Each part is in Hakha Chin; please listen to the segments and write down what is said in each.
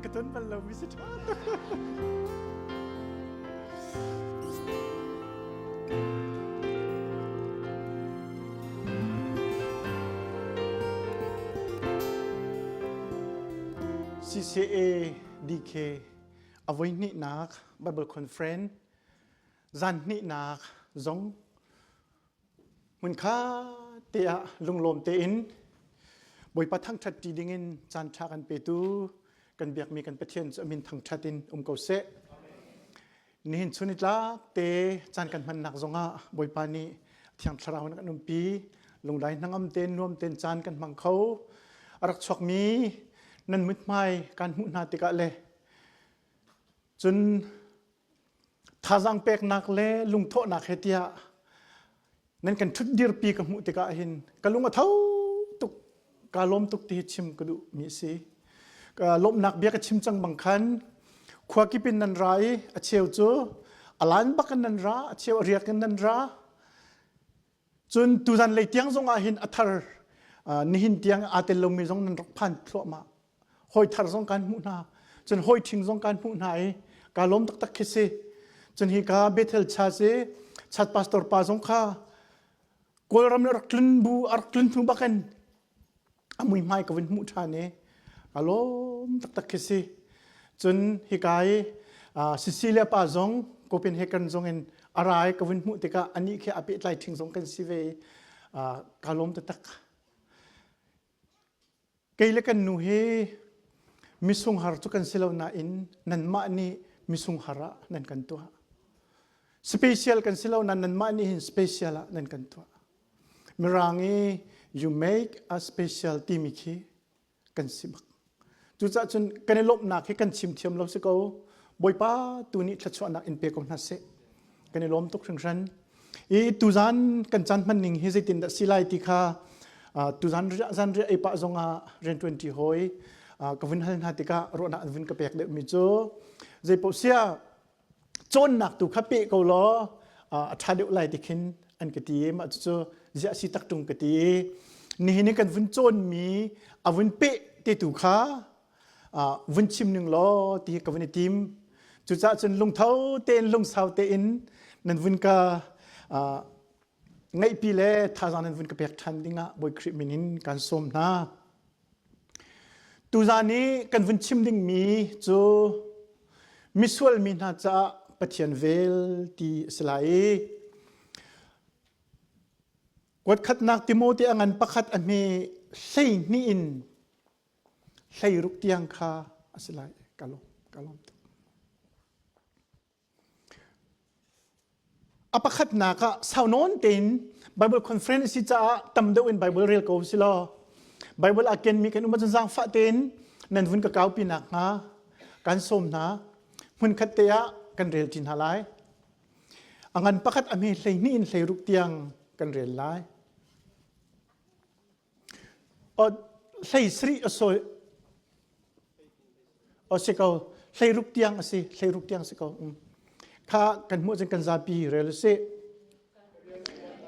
Ka ton bal lo mi si ṭha. CCA DK avoi hnihnak Bible conference zan hnihnak zong Hmunkha te ah lunglawm tein Bawipa thangṭhat ṭi dingin caan ṭha kan petu kan biakmi kan Pathian cu amin thangṭhat in um ko seh. Nihin chun itlak te caan kan hmannak zongah Bawipa nih Thiang Thlarau in kan umpi lunglai hnangam ten nuam ten caan kan hmang kho. A rak chuakmi nan muthmai kan hmuh hna tikah le cun Thazang peknak le lungthawhnak he tiah nan kan ṭhut dirpi ka hmuh tikah hin ka lung a tho tuk kaa lawm tuk ti hi chim ka duh mi a si. Ka lawmhnak bia ka chim cang bang khan khuakip in nan ra i a cheu cu a lan bak in nan ra a cheu a riak in nan ra cun tudan lei tiang zongah hin a thar nihin tiang aa tel lomi zong nan rak phan thluahmah hawi thar zong kan hmuh hna cun hawi ṭhing zong kan hmuh hna i ka lawm taktak khi si cun hi ka Bethel cha si chat pastor pa zong kha Kawlram le rak tlun bu a rak tlun hnu bakin a mui hmai ka vun hmuh ṭhan i ka lawm taktak khi si cun hi ka i Cecilia pa zong Copenhagen zong in a ra i ka vun hmuh tikah anih khi a pehtlai ṭhing zong kan si ve i ka lawm taktak Kei le kan nu hi misunghar cu kan si lo nain nanmah nih misunghar ah nan kan tuah. Special kan si lo nain nanmah nih hin special ah nan kan tuah. Mirang i you make a special timi khi kan si bak. Cucaah cun kan i lawmhnak hi kan chim thiam lo si ko. Bawipa tu nih thluachuahnak in pe ko hna seh. Kan i lawm tuk hringhran. i tuzan kan chan hman ning hi zeitin dah si lai ti kha tuzan zan ria ei pah zong ah rian ṭuanṭi hoi ka vun hal hna tikah ruahnak an vun ka pek deuhmi cu zeipoh sia cawnnak tu kha pe ko law a ṭha deuh lai ti khin an ka ti i mah cucu ziah si tak ṭung ka ti i nihin i kan vun cawnmi a vun peh te tu kha vun chim ning law ti ka vun i tim cucah cun lungtho tein lungsau tein nan vun ka ngaihpi le thazaang nan vun ka pek ṭhan dingah Bawi Khrih min in kan sawm hna tuzan i kan vun chim dingmi cu misual mi hna caah Pathian vel ti a si lai i kuatkhatnak Timote a ngan pakhat a hme hlei hnih in hleiruk tiang kha a si lai ka lawm ka lawm tuk a pakhatnak ah sau nawn tein bible conference si caah tam deuh in bible rel ko si law bible a kenmi kan um cun zaangfah tein nan vun ka kaupi nak hnga kan sawm hna hmunkhat te ah kan rel ti hna lai a ngan pakhat a hme hlei hnih in hlei ruk tiang kan rel lai Hleisarih a sawi. O si ko, hleirup tiang a si, hleirup tiang si ko. Kha kan hmuh cun kan zapi rel si.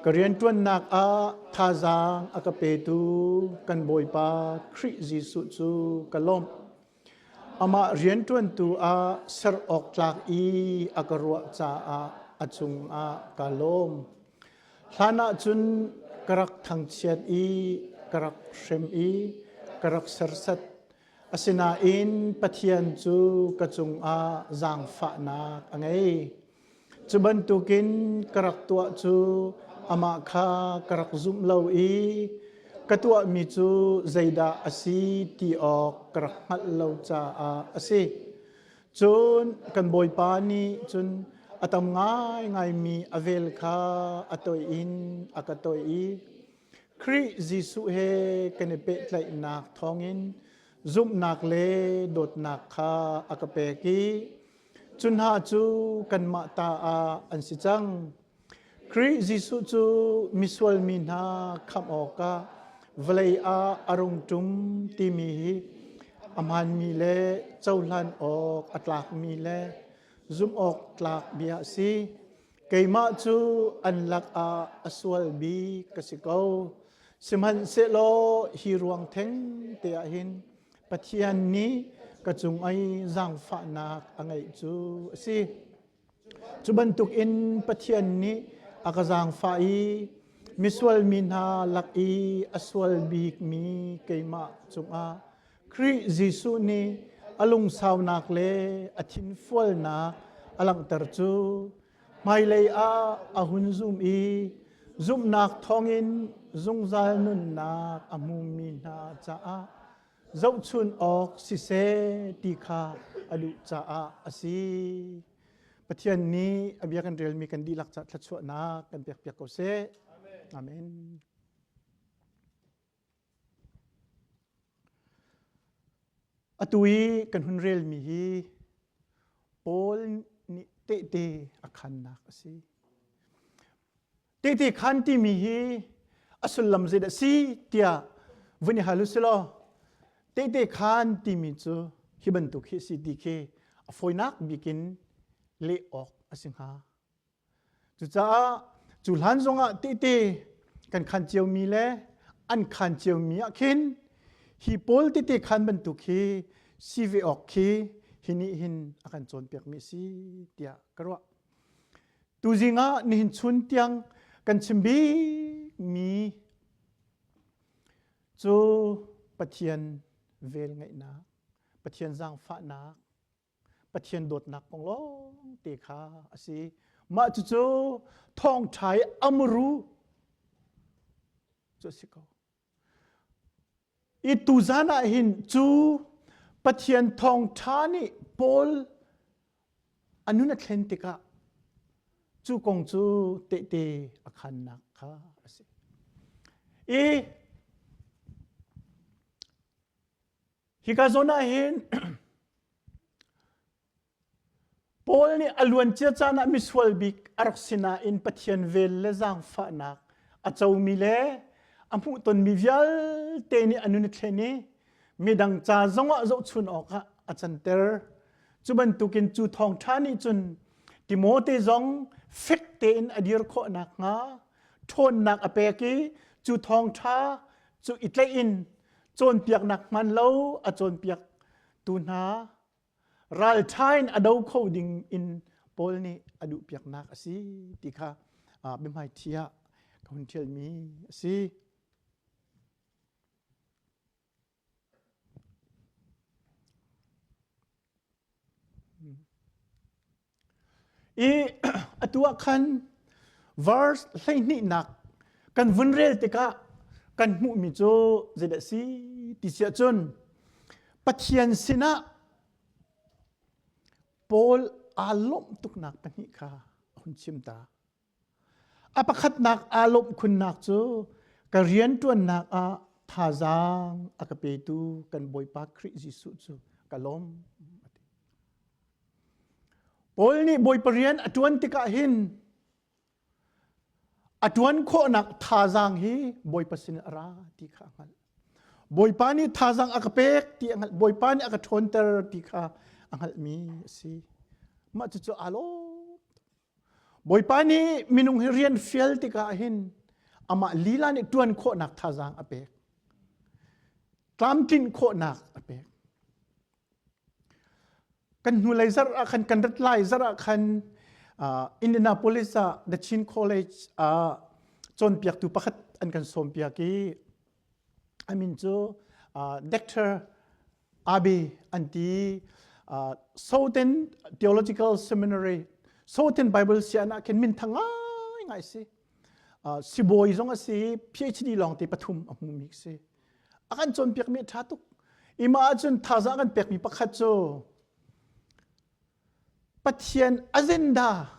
Ka rianṭuannak ah thazaang a ka petu kan Bawipa Khrih Jesuh cu ka lawmh. Amah rianṭuantu ah ser awktlak i a ka ruah caah a cungah kaa lawm. Hlanah cun ka rak thangchiat i ka rak hrem i ka rak sersat. Asinain Pathian cu ka cungah zaangfahnak a ngei. Cu bantukin ka rak tuah cu amah kha ka rak zumh lo i ka tuahmi cu zeidah a si ti awk ka rak hngalh lo caah a si. Cun kan Bawipa nih cun a tam ngaingaimi a vel kha a toih in a ka toih i Khrih Jesuh he kan i pehtlaihnak thawngin zumhnak le dawtnak kha a ka pek i Cu hna cu kanmah ta ah an si cang. Khrih Jesuh cu misual mi hna khamh awkah vawlei ah a rung ṭum timi hi a hmaanmi le cohlan awk a tlakmi le zumh awk tlak bia a si. keimah cu an lakah a sual mi ka si ko. Sihmanhsehlaw hi ruang theng te ah hin Pathian nih ka cung i zaangfahnak a ngeih cu a si. Cu bantuk in Pathian nih a ka zaangfah i misual mi hna lak i a sual bik mi keimah cungah Khrih Jesuh nih a lungsaunak le a thinfualnak a langhter cu hmailei ah a hun zum i zumhnak thawngin zungzal nunnak a hmumi hna caah zohchunh awk siseh ti kha a duh caah a si. Pathian nih a bia kan relmi kan dihlak caah thluachuahnak kan pekpiak ko seh. Amen. Atu i kan hun relmi hi Paul nih tehte a khannak a si. Tehte khan timi hi a sullam zeidah a si tiah vun i hal u si law tehte khan timi cu hi bantuk hi a si ti khi a fawinak bik in leh awk a si hnga. Cucaah cu hlan zongah tehte kan khan ciomi le an khan ciomi ah khin hi pawl tete khan bantuk hi si ve awk khi hi nih hin a kan cawnpiakmi a si tiah ka ruah. Tuzing ah nihin chun tiang kan chim bikmi cu Pathian velngeihnak, Pathian zaangfahnak, Pathian dawtnak kong lawngte kha a si. Mah cucu thawngṭha i amru cu a si ko. I tuzan ah hin cu Pathian thawngṭha nih Paul a nun a thlen tikah cu kong cu tehte a khannak kha a si. I Hika zawn ahhin Paul nih a luancia caan ah misual bik a rak si nain Pathian vel le zaangfahnak a comi le a hmuhtonmi vialte nih a nun a thlen i midang ca zongah zohchun awkah a canter. Cu bantukin cu thawngṭha nih cun Timote zong fek tein a dir khawh nakhnga ṭhawnnak a pek i cu thawngṭha cu i tlaih in cawnpiaknak hman lo a cawnpiak tu hna ralṭhain a do kho ding in Paul nih a duhpiaknak a si ti kha biahmaiṭhi ah ka hun ṭhialmi a si. I atu ah khan verse hleihnihnak kan vun rel tikah kan hmuhmi cu zeidah si ti si ahcun Pathian sinah Paul aa lawmh tuknak pahnih kha a hun chim ta. A pakhatnak aa lawmh khunnak cu ka rianṭuannak ah thazaang a ka petu kan Bawipa Khrih Jesuh cu ka lawm. Paul nih Bawipa rian a ṭuan tikah hin a ṭuan khawhnak thazaang hi Bawipa sinin a ra ti kha a hngalh. Bawipa nih thazaang a ka pek ti a hngalh. Bawipa nih a ka ṭhawnter ti kha a hngalhmi a si. Mah cucu aa lawm. Bawipa nih minung hi rian fial tikah hin amah lila nih ṭuan khawhnak thazaang a pek. Tlamtlinh khawhnak a pek. Kan hnulei zarh ah khan, kan rat lai zarh ah khan uh, Indianapolis ah The Chin College uh, cawnpiaktu pakhat an kan sawmpiak i A min cu Dr. Abe an ti. Southern Theological Seminary, Southern Bible sian ah khin minthang ngaingai si. Sibawi zong a si, PhD lawng te pathum a hmumi si. A kan cawnpiakmi a ṭha tuk. Ima ahcun thaza kan pekmi pakhat cu Pathian agenda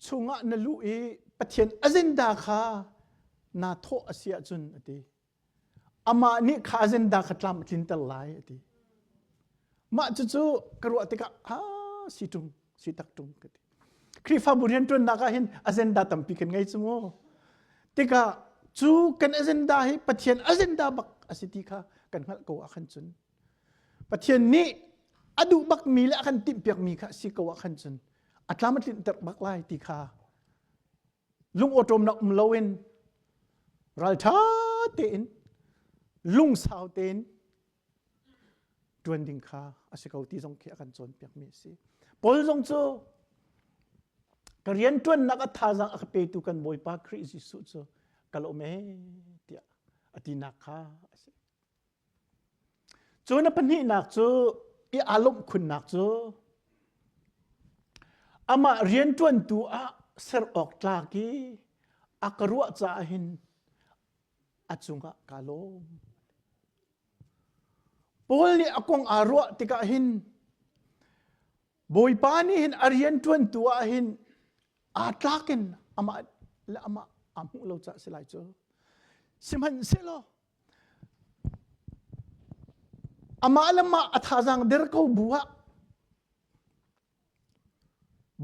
chungah na luh i Pathian azinda kha naa thawh a si ahcun a ti. Amah nih kha azinda kha tlam a tlinter lai a ti. Mah cucu ka ruah tikah ha si ṭung, si tak ṭung ka ti. Khrihfabu rianṭuannak ah hin azenda tampi kan ngei cu mu. Tikah cu kan azenda hi Pathian azenda bak a si ti kha kan hngalh ko ahkhan cun Pathian nih a duh bakmi le a kan timhpiakmi kha a si ko ahkhan cun a tlam a tlinter bak lai ti kha lungawṭawmnak um loin ralṭha tein lungsau tein ṭuan ding kha a si ko ti zong khi a kan cawnpiakmi a si. Paul zong cu ka rianṭuannak a thazaang a ka petu kan Bawipa Khrih Jesuh cu ka lawm e tiah a tinak kha a si. Cu na pahnihnak cu i aa lawmh khunnak cu amah rianṭuantu ah ser awk tlak i a ka ruah caah hin a cungah kaa lawm. Paul nih a kong aa ruah tikah hin Bawipa nih hin a rianṭuantu ah hin aa tlakin amah le amah aa hmuh lo caah si lai cu. Sihmanhsehlaw Amah le mah a thazaang der ko bu ah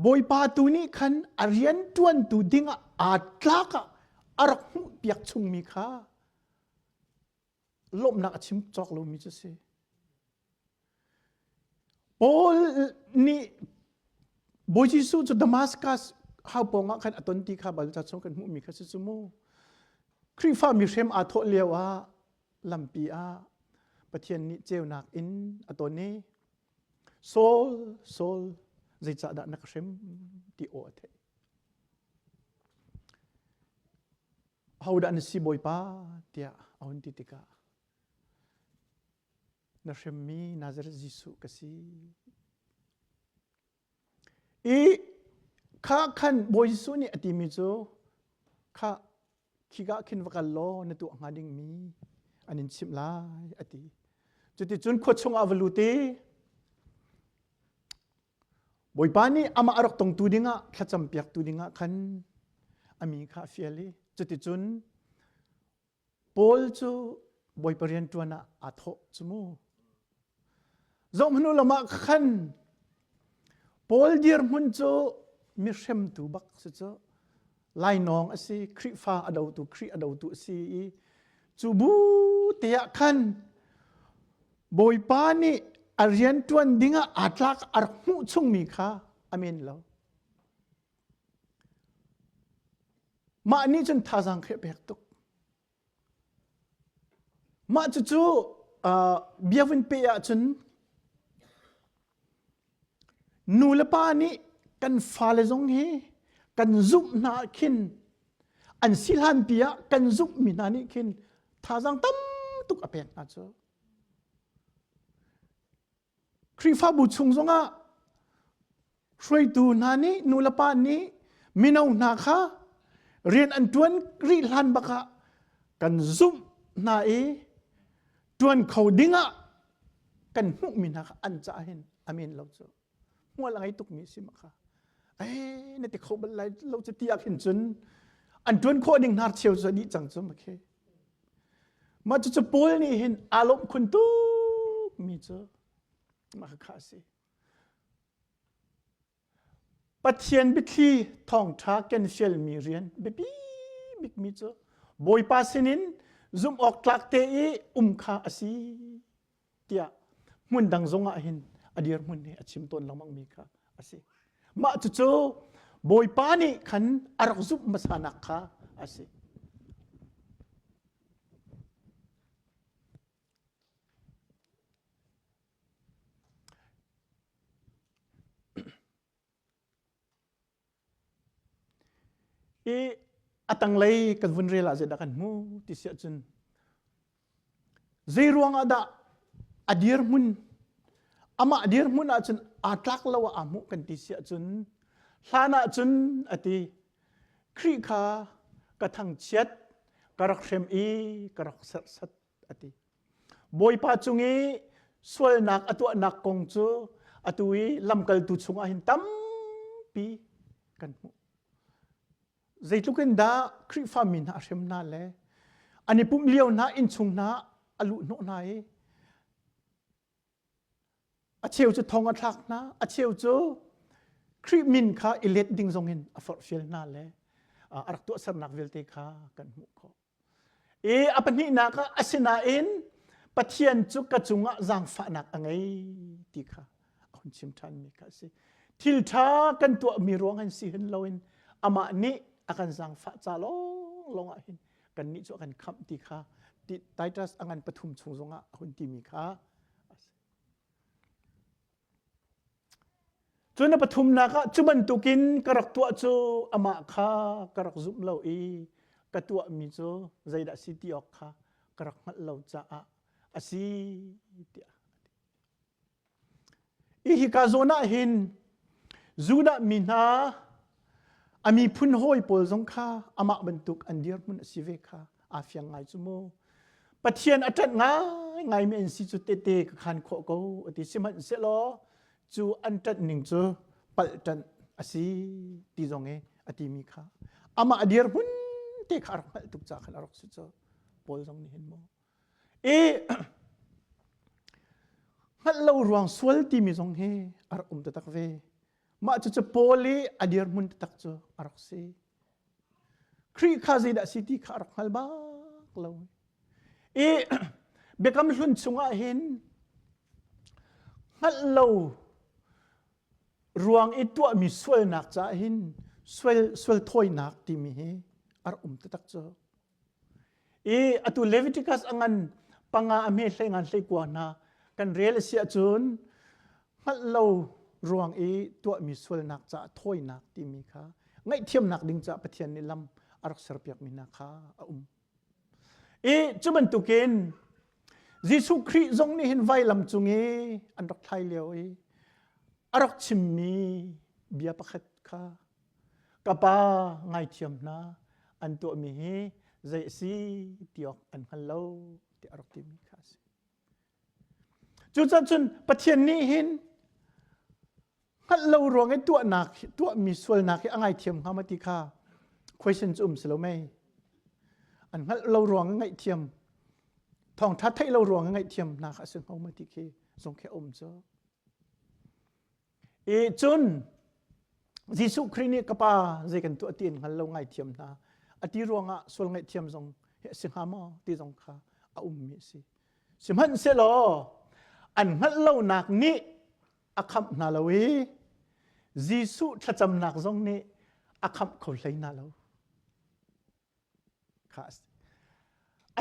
Bawipa tu nih khan a rianṭuantu ding ah aa tlak ah a rak hmuhpiak chungmi kha lawmhnak a chim cawk lomi cu a si. Paul nih Bawi Jesuh cu Damascus hau pawngah khan a ton ti kha Bawipa chung kan hmuhmi kha si cu mu. Khrihfa mi hrem aa thawh lio ah lampi ah Pathian nih ceunak in a ton i Saul, Saul, zeicahdah na ka hrem ti aw a theih. Ahodah na si Bawipa tiah a hun ti tikah Na hremmi Nazareth Jesuh ka si. I kha khan Bawi Jesuh nih a timi cu kha khigah khin va kal law na tuah hnga dingmi an in chimh lai a ti. Cuticun khua chungah va lut i Bawipa nih amah a rak tongtu dingah thlacampiaktu dingah khan a mi kha a fial i cuticun Paul cu Bawipa rianṭuan ah aa thawh cu mu. Zohhmanu lam ah khan Paul dirhmun cu mihremtu bak si cu lainawng a si, Khrihfa a dotu Khrih a dotu a si i cu bu te ah khan Bawipa nih a rianṭuan ding ah aa tlak a rak hmuh chungmi kha a men lo. Mah nih cun thazaang khi a pek tuk. Mah cucu uh, biavun pe ahcun nu le pa nih kan fale zong hi kan zumh hna ah khin an si hlan pi ah kan zumhmi hna nih khin thazaang tam tuk a pek hna cu. Khrihfabu chung zongah hruaitu hna nih nulepa nih mino hna kha rian an ṭuan rih hlan bak ah kan zumh hna i ṭuan kho dingah kan hmuhmi hna kha an caah hin amen lo cu hmual a ngei tukmi a si ma kha ai na ti kho bal lai lo cu ti ah khin cun an ṭuan khawh ding hnar cheu cu a dih cang cu ma khi Mah cucu Paul nih hin aa lawmh khun tukmi cu mah khakha a si. Pathian biathli thawngṭha kan sialmi rian biapi bikmi cu Bawipa sinin zumh awk tlak te i um kha a si tiah hmun dang zongah hin a dirhmun hi a chim tawn lengmangmi kha a si. Mah cucu Bawipa nih khan a rak zumh hmasanak kha a si. i a tanglei kan vun rel ah zeidah kan hmuh ti si ahcun zeiruang ah dah a dirhmun amah dirhmun ahcun aa tlak lo ah aa hmuh kan ti si ahcun hlan ahcun a ti Khrih kha ka thangchiat ka rak hrem i ka rak serhsat a ti bawipa cung i sualnak a tuahnak kong cu atu i lamkaltu chungah hin tampi kan hmuh zeitluk in dah khrihfami hna a hrem hna le an i pumh lio hna innchung hna a luhhnawh hna i a cheu cu thong a thlak hna a cheu cu Khrih min kha i let ding zongin a forhfial hna le a rak tuahsernak vialte kha kan hmuh khawh i a pahnihnak ah asinain Pathian cu ka cungah zaangfahnak a ngei ti kha a hun chim ṭhanmi kha a si. Thil ṭha kan tuahmi ruangah hin si hin loin amah nih a kan zaangfah ca lawnglawng ah hin kannih cu a kan khamh ti kha Titus a ngan pathum chung zongah a hun timi kha Cu na pathumnak ah cu bantukin ka rak tuah cu amah kha ka rak zumh lo i ka tuahmi cu zeidah si ti awk kha ka rak hngalh lo caah a si tiah i hika zawn ah hin Judah mi hna A miphun hawi pawl zong kha amah bantuk an dirhmun a si ve kha aa fiang ngai cu mu. Pathian a ṭanh ngaingaimi an si cu tete ka khan khawh ko a ti sihmanhsehlaw cu an ṭanh ning cu palṭanh a si ti zong i a timi kha amah dirhmun te kha a rak hngalh tuk ca khan a rak si cu Paul zong nih hin mu i hngalh lo ruang sual timi zong hi a rak um taktak ve Mah cucu Paul i a dirhmun taktak cu a rak si. Khrih kha zeidah a si ti kha a rak hngal bak lo. I biakam hlun chungah hin hngalh lo ruang i tuahmi sualnak caah hin sual, sual thawinak timi hi a rak um taktak cu. i atu Leviticus angan panga a hme hlei ngan hlei kua hna kan rel a si ahcun hngalh lo ruang i tuahmi sualnak caah thawinak timi kha ngaihthiamnak ding caah Pathian nih lam a rak serpiakmi hna kha a um i cu bantukin Jesuh Khrih zong nih hin vailam cung i an rak thlai lio i a rak chimmi bia pakhat kha ka pa ngaithiam hna an tuahmi hi zei a si ti awk an hngal lo tiah a rak timi kha a si. Cucaah cun Pathian nih hin hngalh lo ruang i tuahnak tuahmi sualnak hi a ngaithiam hnga ma ti kha question cu um si lo mei. An hngalh lo ruang i ngaihthiam thawngtha theih lo ruang i ngaihthiam hna kha a si hngo ma ti khi zong khi a um cu. i cun Jesuh Khrih nih ka pa zei kan tuah ti in hngal lo ngaithiam hna a ti ruangah sual ngaihthiam zong hi a si hnga maw ti zong kha a ummi a si sihmanhsehlaw an hngalh lonak nih a khamh hna lo i Jesuh thlacamnak zong nih a khamh kho hlei hna lo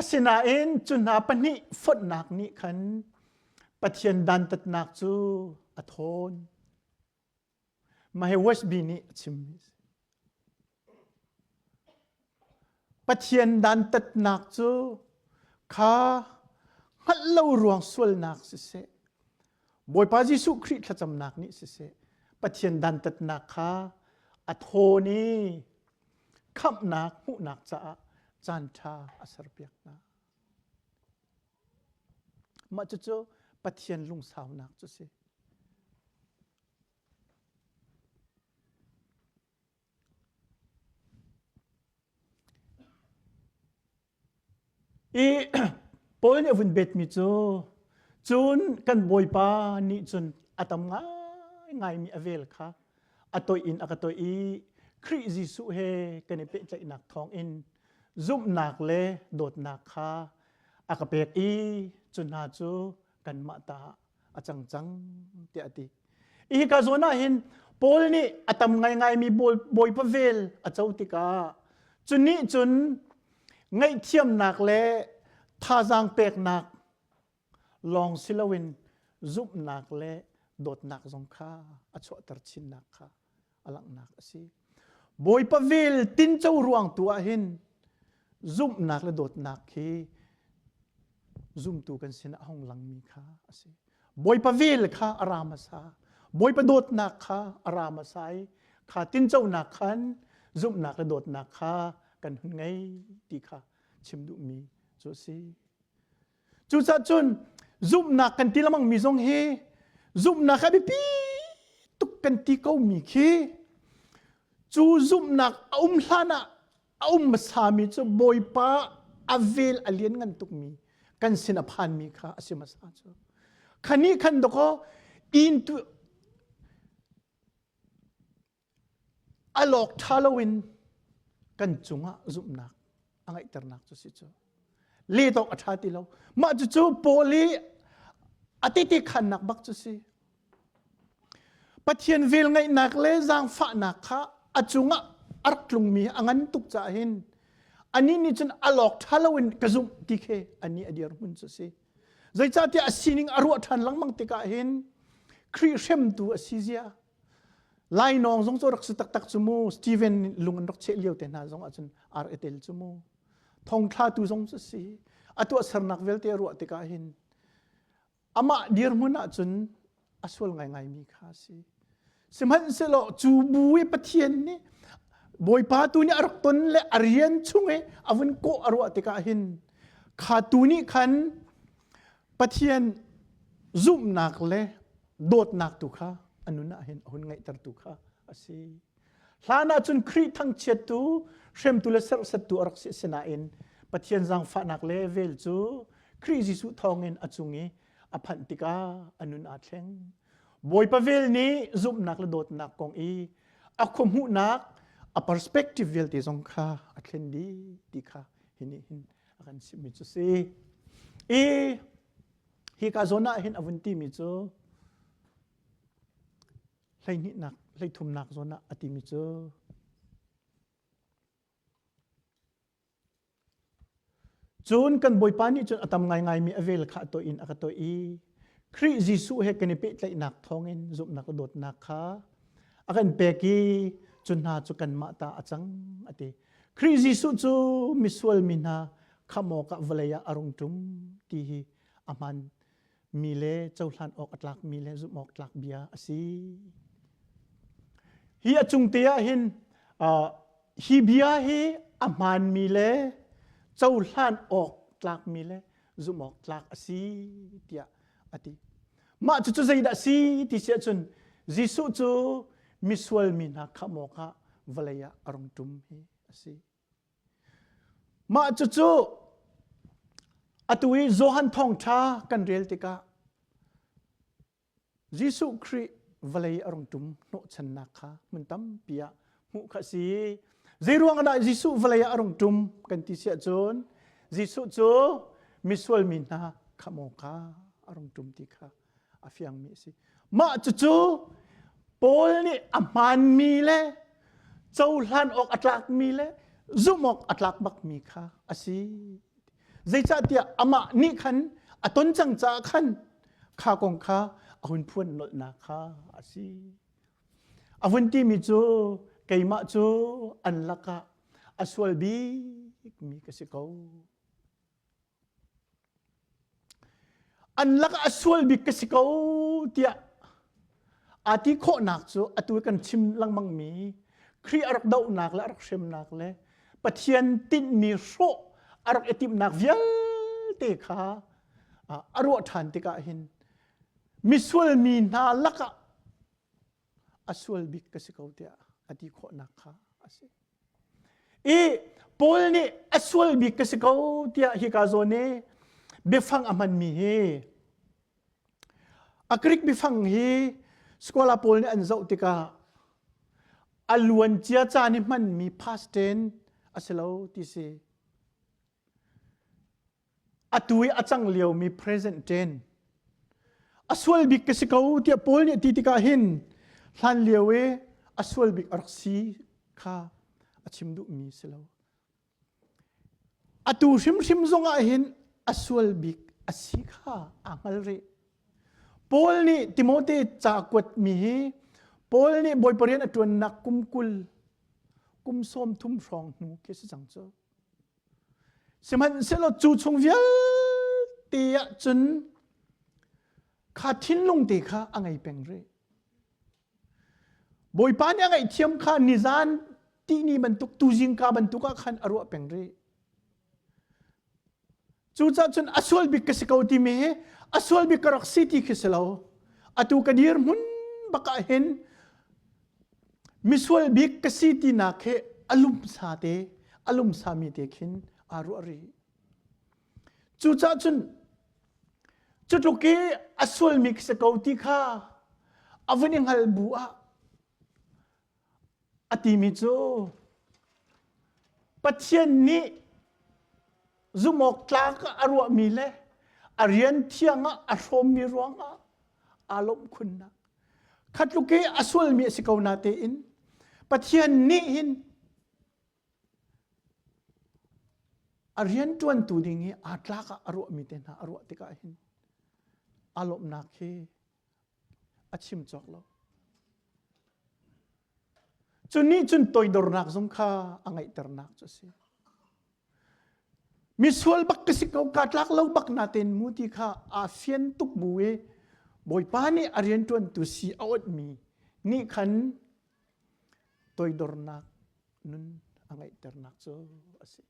Asinain cu hna pahnih fonhnak nih khan Pathian dantatnak cu a thawn. Mahe Westby nih a chimmi a si. Pathian dantatnak cu kha hngalh lo ruang sualnak siseh, Bawipa Jesuh Khrih thlacamnak nih siseh, Pathian dantatnak kha a thawn i khamhnak hmuhnak caah caanṭha a serpiak hna. Mah cucu Pathian lungsaunak cu si. I pawi nih a vun betmi cu cun kan bawipa nih cun a tam ngaingaimi a vel kha a toih in a ka toih i Khrih Jesuh he kan i pehtlaihnak thawngin zumhnak le dawtnak kha a ka pek i cu hna cu kanmah ta ah a cang cang tiah a ti. Hi ka zuan ah hin Paul nih a tam ngaingaimi bawipa vel a co tikah cu nih cun ngaihthiamnak le thazaang peknak lawng si loin zumhnak le dawtnak zong kha a chuahter chinnak kha a langhnak a si bawipa vel tinco ruang tu ah hin zumhnak le dawtnak khi zumtu kan sinah hong langmi kha a si bawipa vel kha a ra hmasa bawipa dawtnak kha a ra hmasa i kha tinconak khan zumhnak le dawtnak kha kan hun ngei ti kha chim duhmi cu a si Cucaah cun zumhnak kan ti lengmang mi zong hi zumhnak a biapi tuk kan ti ko mi khi cu zumhnak a um hlan ah a um hmasa mi cu Bawipa a vel a lian ngan tuk mi kan sin a phan mi kha a si hmasa cu khan nih khan dakaw in tu a lawk ṭha loin kan cungah zumhnak a ngeihternak cu si cu lehdawk a ṭha ti lo mah cucu poli a titikhannak bak cu si pathian velngeihnak le zaangfahnak kha a cungah a rak tlungmi a ngan tuk caah hin ani nih cun a lawk ṭha loin ka zumh ti khi ani a dirhmun cu si zeicahtiah a sining a ruah ṭhan lengmang tikah hin Khrih hremtu a si zia Lainawng zong cu rak si taktak cu mu. Steven lung an rak cheh lio te hna zong ahcun ar etel cu mu. Thongthlatu zong cu si. A tuahsernak vialte a ruah tikah hin amah dirhmun ahcun a sual ngaingaimi kha a si. Sihmanhsehlaw cu bu i Pathian nih Bawipa tu nih a rak ton le a rian chung i a vun kawh a ruah tikah hin kha tu nih khan Pathian zumhnak le dawtnak tu kha a nun ah hin a hun ngaihter tu kha a si hlan ah cun Khrih thangchiattu hremtu le serhsattu a rak si asinain Pathian zangfahnak le vel cu Khrih Jesuh thawngin a cung i a phanh tikah a nun aa thleng Bawipa vel nih zumhnak le dawtnak kong i a khuahmuhnak a perspective vialte zong kha a thlen dih ti kha hi nih hin a kan chimhmi cu si i Hika zawn ah hin a vun timi cu hleihnihnak hleithumnak zawn ah a timi cu cun kan bawipa nih cun a tam ngaingai mi a vel kha a toih in a ka toih i Khrih Jesuh he kan i pehtlaihnak thawngin zumhnak le dawtnak kha a kan pek i cu hna cu kanmah ta a cang a ti Khrih Jesuh cu misual mi hna kham awkah vawlei ah a rung ṭum ti hi a hman mi le cohlan awk a tlak mi le zumh awk tlak bia a si. Hi a cung te ah hin uh, hi bia hi a hman mi le cohlan awk tlak mi le zumh awk tlak a si tiah a ti. Mah cucu zeidah a si ti si ahcun Jesuh cu misual mi hna kham awkah vawlei ah a rung ṭum hi a si. Mah cucu atu i Johan thawngṭha kan rel tikah Jesuh Khrih vawlei a rung ṭum hnawhchannak kha hmun tampi ah hmuh kha si zeiruang ah dah Jesuh vawlei ah a rung ṭum kan ti siah cun Jesuh cu misual mi hna kha maw ka a rung ṭum ti kha a fiangmi a si mah cucu Paul nih a hmaanmi le cohlan awk a tlakmi le zumh awk a tlak bakmi kha a si zeicahtiah amah nih khan a ton cang caah khan kha kong kha a hun phuan nolhnak kha a si A hun timi cu keimah cu an lakah a sual bikmi ka si ko. An lakah a sual bik ka si ko tiah aa ti khawhnak cu atu kan chim lengmangmi Khrih a rak dohnak le a rak hremnak le Pathian tinhmi hrawh a rak i timhnak vialte kha a ruah ṭhan tikah hin Misual mi hna lakah a sual bik ka si ko tiah a ti khawhnak kha a si. I Paul nih a sual bik ka si ko tiah hika zawn i biafang a hmanmi hi a Greek biafang hi scola pawl nih an zoh tikah a luancia caan i hmanmi past tense a si lo ti si. Atu i a cang liomi present ṭen a sual bik ka si ko tiah Paul nih a ti tikah hin hlan lio i a sual bik a rak si kha a chim duhmi si lo. Atu hrimhrim zongah hin a sual bik a si kha aa hngal rih. Paul nih Timote ca kuatmi hi Paul nih Bawi parian a ṭuannak kum kul kum sawm thum hrawng hnu khi a si cang cu. Sihmanhsehlaw cu chung vialte ah cun kha thinlung te kha a ngei peng rih. Bawipa nih a ngaihthiam kha nizan ti ni bantuk tuzingka bantuk ah khan a ruah peng rih. Cucah cun a sual bik ka si ko timi hi a sual bik ka rak si ti khi si lo. Atu ka dir hmun bakah hin misual bik ka si tinak hi a lumsa te, a lumsami te khin aa ruah rih. Cucah cun cutluk i a sualmi khi si ko ti kha a vun i hngal bu ah a timi cu Pathian nih zumawktlak ah a ruahmi le a rian thiang ah a hrawmmi ruangah aa lawmh khunnak kha tluk i a sulmi a si ko na tein Pathian nih hin a rianṭuantu ding i aa tlak ah a ruahmi te hna a ruah tikah hin aa lawmhnak hi a chim cawk lo. Cu nih cun toidornak zong kha a ngeihternak cu a si. Misual bak ka si ko ka tlak lo bak na ten mu ti kha aa fian tuk bu i Bawipa nih a rianṭuantu si a awtmi nih khan toidornak nun a ngeihternak cu a si.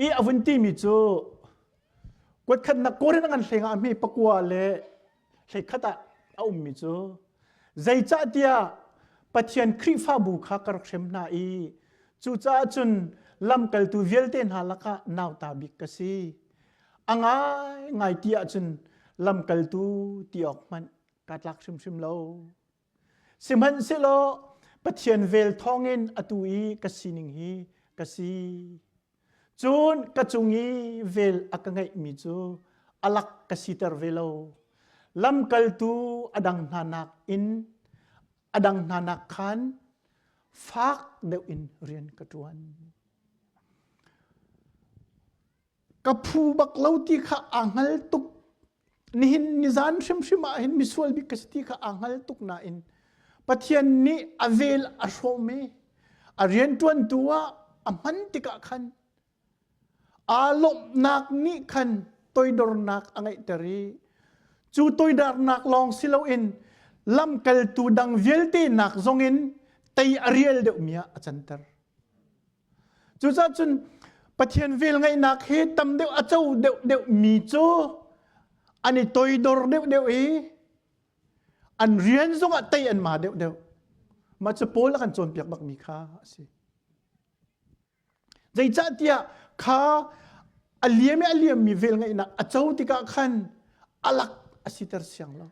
i a vun timi cu kuatkhatnak Korin ngan hleng ah mi pakua le hleikhat ah a ummi cu zeicah tiah Pathian Khrihfabu kha ka rak hrem hna i cucaah cun lamkaltu vialte hna lakah nauta bik ka si a ngaingai ti ahcun lamkaltu ti awk hmanh ka tlak hrimhrim lo. Sihmanhsehlaw Pathian vel thawngin atu i ka sining hi ka si. Cun ka cung i vel a ka ngeihmi cu alak ka siter ve lo. Lamkaltu a dang hna nakin a dang hna nak khan fak deuh in rian ka ṭuan. Ka phu bak lo ti kha a hngal tuk nihin nizan hrimhrim ah hin misual bik ka si ti kha a hngal tuk nain Pathian nih a vel a hrawm i a rianṭuantu ah a hman tikah khan aa lawmhnak nih khan toidornak a ngeihter i cu toidornak lawng si loin lamkaltu dang vialte nak zongin tei a rial deuhmi ah a canter. Cucaah cun Pathian velngeihnak hi tam deuh a co deuh deuh mi cu an i toidor deuh deuh i an rian zongah tei an ma deuh deuh. Mah cu Paul a kan cawnpiak bakmi kha a si. Zeicah tiah kha a liam i a liammi velngeihnak a co tikah khan alak a siter siang lo.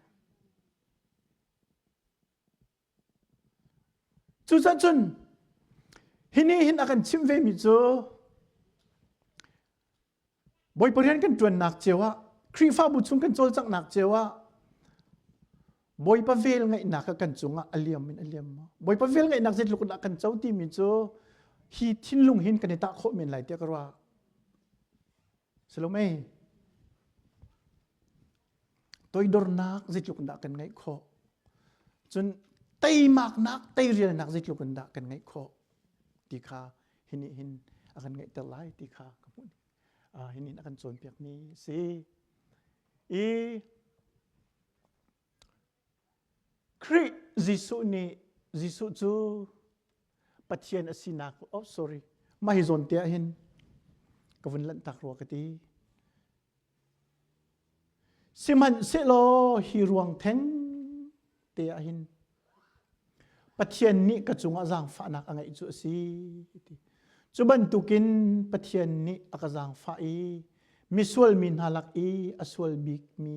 Cucaah cun hi nih hin a kan chimh vemi cu Bawipa rian kan ṭuannak cio ah Khrihfabu chung kan cawlcanghnak cio ah Bawipa velngeihnak a kan cungah a liam in a liam maw? Bawipa velngeihnak zeitluk in dah kan co timi cu hi thinlung hin kan i tah khawh men lai tiah ka ruah. Salome, toidornak zeitluk in dah kan ngeih khawh? Cun teimaknak, teirialnak zeitluk in dah kan ngeih khawh ti kha hi nih hin a kan ngeihter lai ti kha ka hmuh. Uh, hi nih a kan cawnpiakmi a si. I Khrih Jesuh nih Jesuh cu Pathian a sinak oh sorry mah hi zawn te ah hin ka vun lanhtak rua ka ti sihmanhsehlaw hi ruang theng te ah hin Pathian nih ka cungah zaangfahnak a ngeih cu a si ti cu bantukin Pathian nih a ka zaangfah i misual mi hna lak i a sual bikmi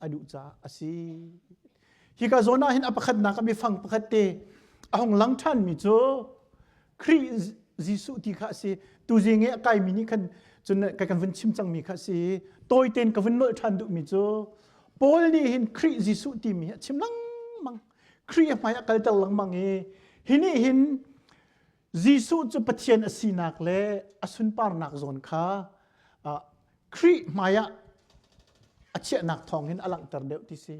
a duh caah a si hika zawn ah hin a pakhatnak a mifang pakhat te a hong lang ṭhan mi cu Khrih Jesuh ti kha a si tuzing i a kaimi nih khan cun kai kan vun chim cang mi kha a si tawi tein ka vun nolh ṭhan duh mi cu Paul nih hin Khrih Jesuh timi a chim lengmang Khrih a hmai a kalter lengmang i hi nih hin Jesuh cu Pathian a sinak le a sunparnak zawn kha Khrih hmaiah a chiahnak thawngin a langhter deuh ti si.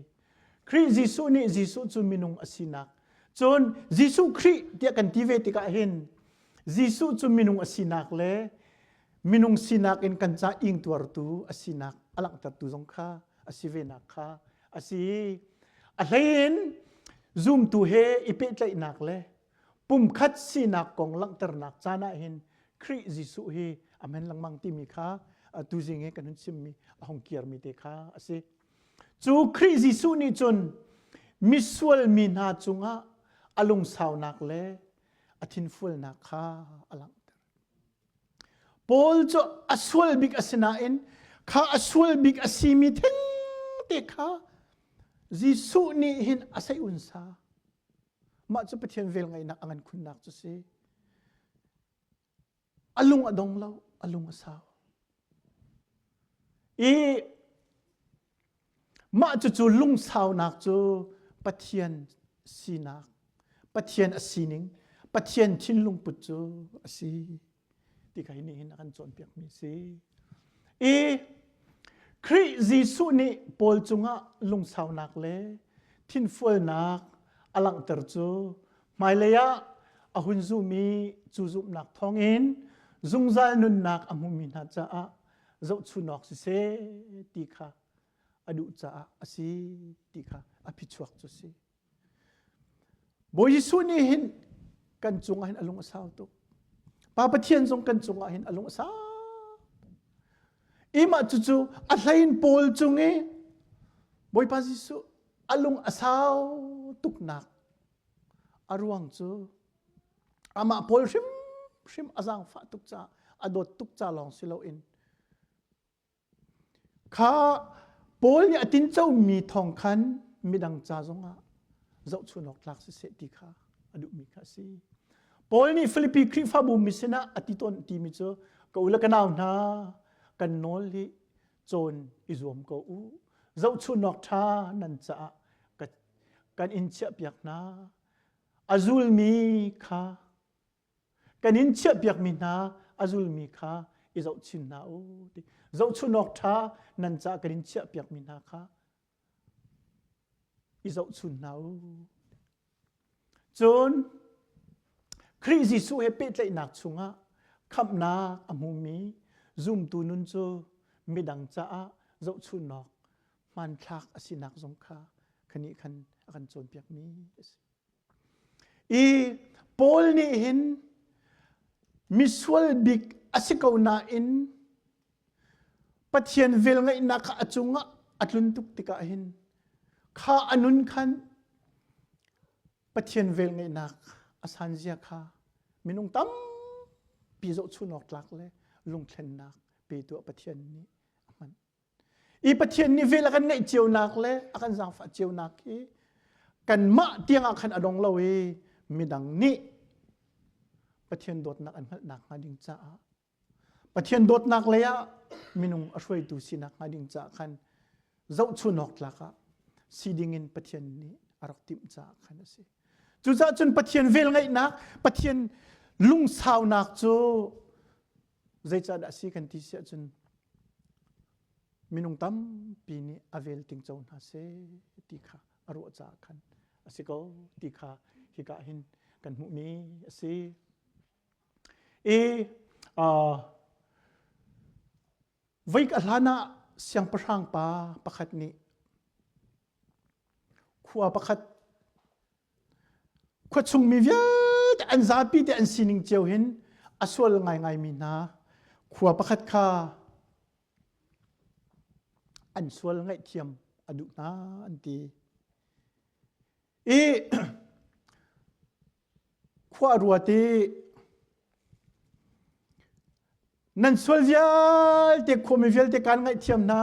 Khrih Jesuh nih Jesuh cu minung a sinak. Cun Jesuh Khrih tiah kan ti ve tikah hin Jesuh cu minung a sinak le minung sinak in kan ca ingtuartu a sinak a langhtertu zong kha a si venak kha a si. A hleiin zumtu he i pehtlaihnak le pumkhat sinak kong langhternak caan ah hin Khrih Jesuh hi a men lengmang timi kha tuzing he kan hun chimmi a hong kirmi te kha a si. Cu Khrih Jesuh nih cun misual mi hna cungah a lungsaunak le a thinfualnak kha a langhter. Paul cu a sual bik a si nain kha a sual bik a simi thengte kha Jesuh nih hin a seihun sa. Mah cu Pathian velngeihnak a ngan khunnak cu si. A lung a dong lo, a lung a sau. I mah cucu lungsaunak cu Pathian sinak, Pathian a sining, Pathian thinlungput cu a si. ti kha hi nihin a kan cawnpiakmi si i Khrih Jesuh nih Paul cungah lungsaunak le thinfualnak a langhter cu hmailei ah a hun zummi cu zumhnak thawngin zungzal nunnak a hmumi hna caah zohchunawk siseh ti kha a duh caah a si ti kha a phichuak cu si. Bawi Jesuh nih hin kan cungah hin a lung a sau tuk. Pa Pathian zong kan cungah hin a lung a sau. Imah cucu a hlein Paul cung i Bawipa Jesuh a lung a sau tuknak a ruang cu amah Paul hrimhrim a zaangfah tuk caah a dawt tuk ca lawng si loin Kha Paul nih a tincomi thawng khan midang ca zongah zohchunh awk tlak siseh ti kha a duhmi kha a si. Paul nih Filipi Khrihfabu mi sinah a ti tawn timi cu ka u le ka nau hna kan nawl hi cawn i zuam ko u. Zohchunh awk ṭha nan caah kan in chiahpiak hna. A zulmi kha kan in chiahpiakmi hna a zulmi kha i zohchin hna u ti zohchunhawk ṭha nan caah kan in chiahpiakmi hna kha i zohchun hna u cun Khrih Jesuh he pehtlaihnak chungah khamhnak a hmumi zumtu nun cu midang caah zohchunhawk hmanthlak a sinak zong kha khani khan a kan cawnpiakmi a si. I Paul nih hin misual bik a si ko nain Pathian velngeihnak kha a cungah a tlun tuk tikah hin kha a nun khan Pathian velngeihnak a sanzia kha minung tampi zohchunhawk tlak le lungthlennak pe tuah Pathian nih a hman. i Pathian nih vel a kan ngaih cionak le a kan zaangfah cionak hi kanmah tiangah khan a dong lo i midang nih Pathian dawtnak an hngalh nakhnga ding caah Pathian dawtnak lei ah minung a hruaitu si nakhnga ding caah khan zohchun awk tlak ah si ding in Pathian nih a rak timh caah khan a si. Cucaah cun Pathian velngeihnak, Pathian lungsaunak cu Zeicahdah a si kan ti si ahcun minung tampi nih a vel ting co hna seh ti kha a ruah caah khan a si ko ti kha hika hin kan hmuhmi a si. I uh, veik a hlan ah siangpahrang pa pakhat nih khua pakhat Khuachung mi vialte an zapi te an sining cio hin a sual ngaingai mi hna khua pakhat kha an sual ngaihthiam a duh hna an ti. I khua a ruat i nan sual vialte khuami vialte kaan ngaihthiam hna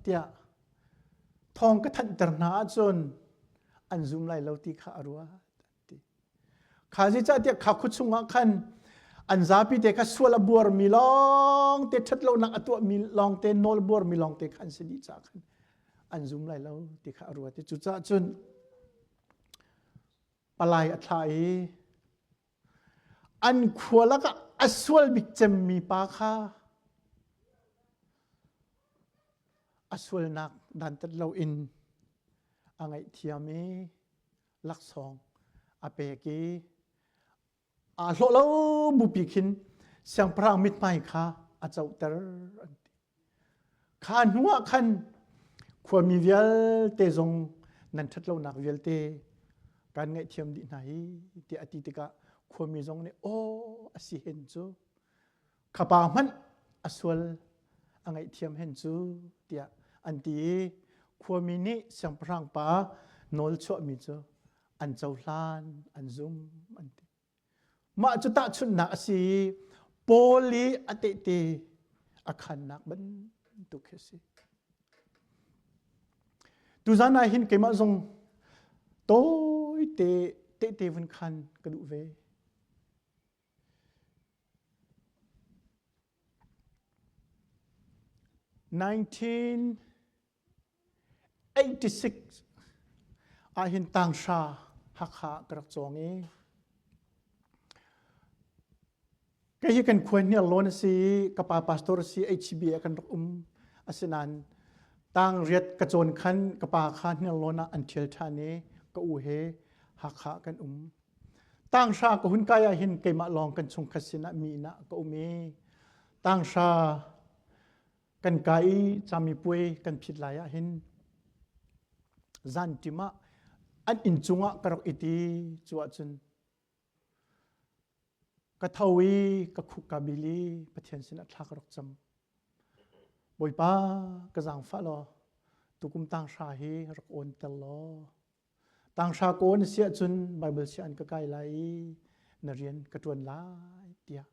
tiah thawng ka thanhter hna ahcun an zum lai lo ti kha a ruat kha zeicahtiah kha khu chungah khan an zapi te kha sual a buarmi lawng te ṭhatlonak a tuahmi lawng te nawl buarmi lawng te kha an si dih caah khan an zum lai lo ti kha a ruat i cucaah cun palai a thlah i an khua lakah a sual bik cemmi pa kha a sualnak dantat loin a ngaihthiam i laksawng a pek i aa hlawh lo bupi khin siangpahrang mithmai kha a coter an ti. Kha hnu ah khan khuami vialte zong nan ṭhatlonak vialte kan ngaihthiam dih hna hi tiah a ti tikah khuami zong nih aw a si hen cu khapa hmanh a sual a ngaihthiam hen cu tiah an ti i khuami nih siangpahrang pa nawl chuahmi cu an cohlan an zum an ti Mah cu tahchunhnak a si i Paul i a tehte a khannak bantuk hi a si. Tuzan ah hin keimah zong tawite tehte vun khan ka duh ve. Nineteen 86 ahhin tanghra Hakha ka rak cawng i kei hi kan khuan hi Arlawn a si i ka pa pastor a si HCB ah kan rak um asinain tang riat ka cawn khan ka pa kha Hniarlawn ah an ṭhial ṭhan i ka u he Hakha kan um tanghra ka hun kai ah hin keimah lawng kan chung khat sinah mi inah ka um i tanghra kan ka i cami puai kan phit lai ah hin zan ṭim ah an inn cungah ka rak it i cu ahcun ka tho i ka khuk ka bil i Pathian sinah thla ka rak cam Bawipa ka zaangfah law tukum tang hra hi rak awn tel law Tanghra kaw na siah cun Baibal siah an ka kai lai i na rian ka ṭuan lai tiah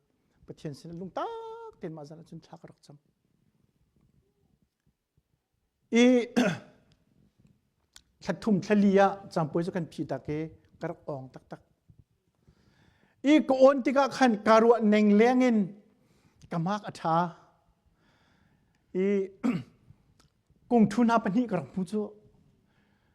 Pathian sinah lungtak tein mah zan cun thla ka rak cam. I thla thum thla li ah cangpuai cu kan phi tak i ka rak ong taktak. I ka on tikah khan ka ruah neng leng in ka mark a ṭha. I kungṭhu hna pahnih ka rak hmu cu.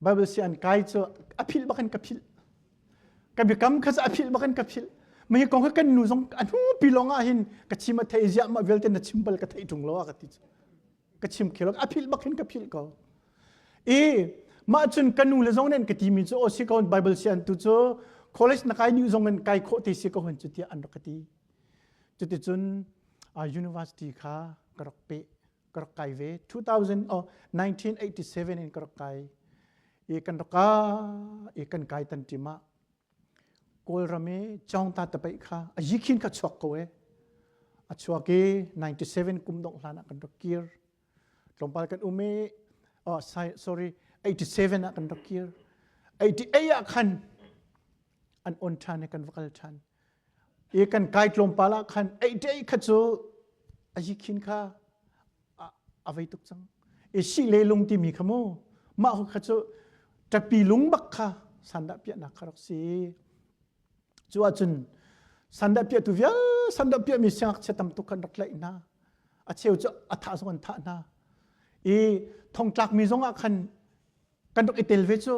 Bible si an kai cu a philh bakin ka philh. Ka biakam kha a philh bakin ka philh. Mah hi kong kan nu zong a nu pi lawng ah hin ka chim a thei ziah ma vialte na chim bal ka thei ṭung lo a ka ti. Ka chim khelo a philh bakin ka philh ko. I mah cun ka nu le zong nen ka timi cu o si ko Bible si an tu cu college na kai ni zong in kai khawh te si ko hun cu tiah an rak ka ti. Cuticun university kha ka rak pe. ka rak kai ve 2000 oh 1987 in ka rak kai i kan raka i kan kai tan tima kawlram i chawngta tapai kha a yikhin ka chuak ko e a chuak i 97 kum dong hlan ah kan rak kir tlawmpal kan um i oh sorry 87 ah kan rak kir 88 ah khan an on than e kan vakal than i kan kai tlawmpal ah khan eiṭei kha cu a yikhin kha a vei tuk cang i si le lung timi kha mu mah hu kha cu ṭapi lung bak kha sandah piahnak kha rak si cu ahcun sandah piahtu vial sandah piahmi siangakchia tam tuk khan rak tlaih hna a cheu cu a thah zong an thah hna i thongtlakmi zong ah khan kan rak i tel ve cu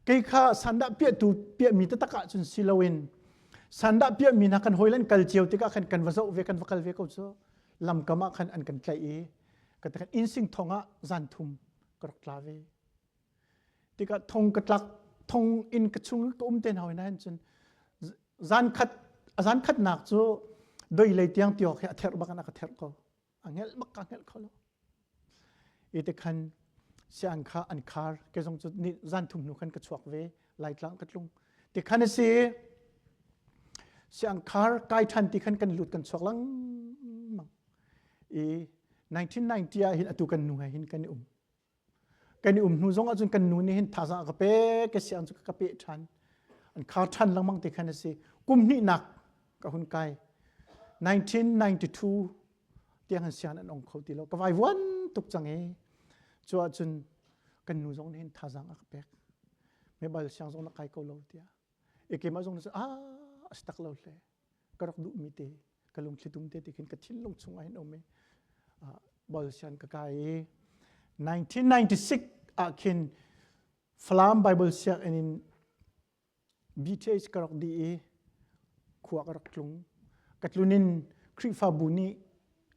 kei kha sandah piahtu piahmi taktak ahcun si loin sandah piahmi hna kan hawi lan kal cio tikah khan kan va zoh ve kan va kal ve ko cu lamkam ah khan an kan tlaih i ka takkan insing thong ah zan thum ka rak tla ve tikah thong ka tlak thong in ka chung ka um te hoi na hin cun zan khat zan khat nak cu doi lei tiang tiok hi a ther bak an aka ther ko a ngelh mak ka ngelh kho lo i te khan siang kha an khar ke zong cu zan thum hnu khan ka chuak ve laitlang ka tlung ti khan a si siang khar kai than ti khan kan lut kan chuak lang mang i 1990 ah hin atu kan nu he hin kan i um kan i um hnu zong ahcun kan nu nih hin thazang a ka pek ka siang cu ka peh ṭhan an khar ṭhan lengmang ti khan a si kum hnihnak ka hun kai 1992 tiang han sian an ong kho ti lo ka vai vuan tuk cang i cu ahcun kan nu zong nih hin thazang a ka pek me bal siang zong la kai ko lo tiah e keimah zong nih ah a si tak lo hle ka rak duhmi te ka lungthli tum te ti khin ka thinlung chungah hin um i bol sian ka kai i 1996 ah khin Falam Bible sianginn in BTH ka rak di i khua ka rak tlung ka tlunin Khrihfabu nih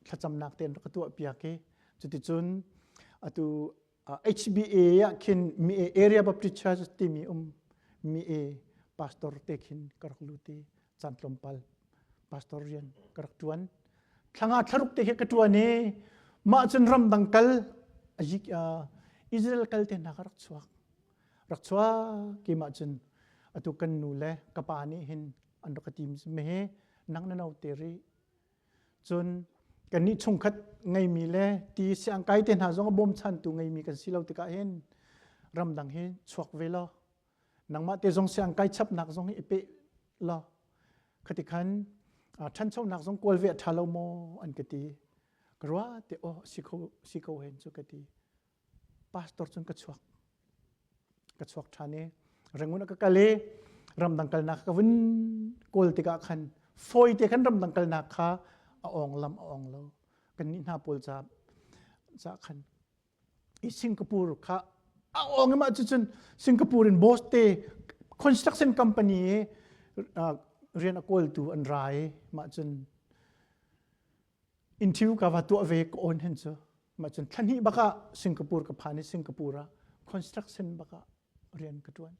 thlacamnak ten ka tuah piak i cuticun atu HBA ah khin mi area public charges timi um mi pastor te khin karak lu ti chan pal pastor rian karak tuan thlanga thlaruk te ka tuan e ma chun ram dang kal ajik Israel kal te na karak chuak rak chua ki ma chun atu kan nu le kapa ni hin an rak team me he nang na no te ri cun kannih chungkhat ngeimi le ti siangkai te hna zong a bawmchantu ngeimi kan si lo tikah hin ramdang hi chuak ve law nangmah te zong siangkai chapnak zong hi i peh law khati khan ṭhanchonak zong kawl ve a ṭha lo maw an ka ti ka ruah te aw si ko si ko hen cu ka ti pastor cun ka chuak ka chuak ṭhan i rengun a ka kal i ramdang kalnak ka vun kawl tikah khan fawite khan ramdang kalnak kha a ong lam a ong lo kan nih hna pawl ca ca khan i Singapore kha a ong imah cucun Singapore in boss te construction company i rian a kawltu an ra i mah cun Inthil ka va tuah ve ka awn hen cu. Ma cun thlahnih bak ah Singapore ka phan i Singapore ah construction bak ah rian ka ṭuan.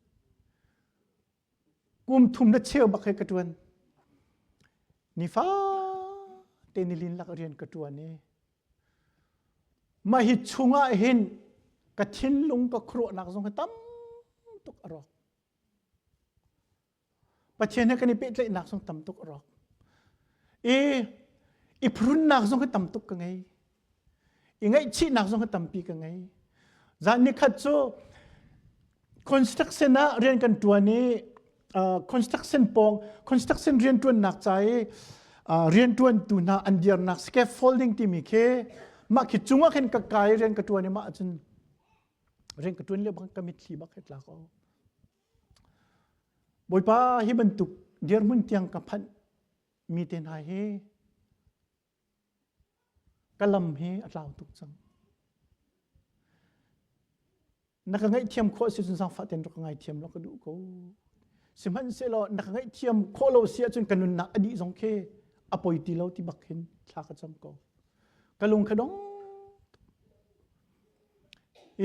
Kum thum le cheu bak he ka ṭuan. Nifa te nilin lak rian ka ṭuan i mah hi chung ah hin ka thinlung ka khuaruahnak zong hi tam tuk a rawk. Pathian he kan i pehtlaihnak zong tam tuk a rawk. I i phurunnak zong hi tam tuk ka ngei. I ngaihchihnak zong hi tampi ka ngei. Zan ni khat cu construction ah rian kan ṭuan i uh, construction pawng construction rian ṭuannak ca i uh, rian ṭuantu hna an dirnak scaffolding timi khi mah khi cungah khin ka kai rian ka ṭuan i mah cun rian ka ṭuan lio bang ka mitthli bak he tlak o Bawipa hi bantuk dirhmun tiang ka phanh mi te hna hi ka lam hi a tlau tuk cang. Na ka ngaihthiam khawh si cun zaangfahten rak ka ngaithiam law ka duh ko. Sihmanhsehlaw na ka ngaihthiam khawh lo si ahcun ka nunnak a dih zong khi a poi ti lo ti bak hin thla ka cam ko. Ka lung ka dong.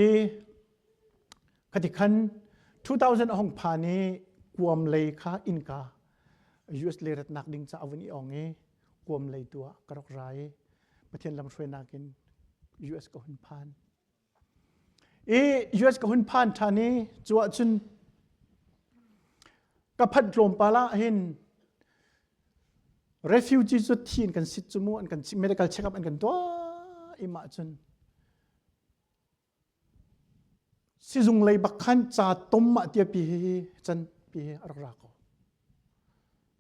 I ka ti khan 2000 hong pha ni kuam lei kha innka US lei ratnak ding ca avun i ong i kuam lei tu ah ka rak ra i Pathian lam hruainak in US ka hun phan i US ka hun phan than i cu ah cun ka phat tlawm pala hin refugee cu thi in kan sit cu mu an kan medical check up an kan tuah ima cun Sizung lei bak khan ca tom ah tia pi hi can pi hi a rak ra ko.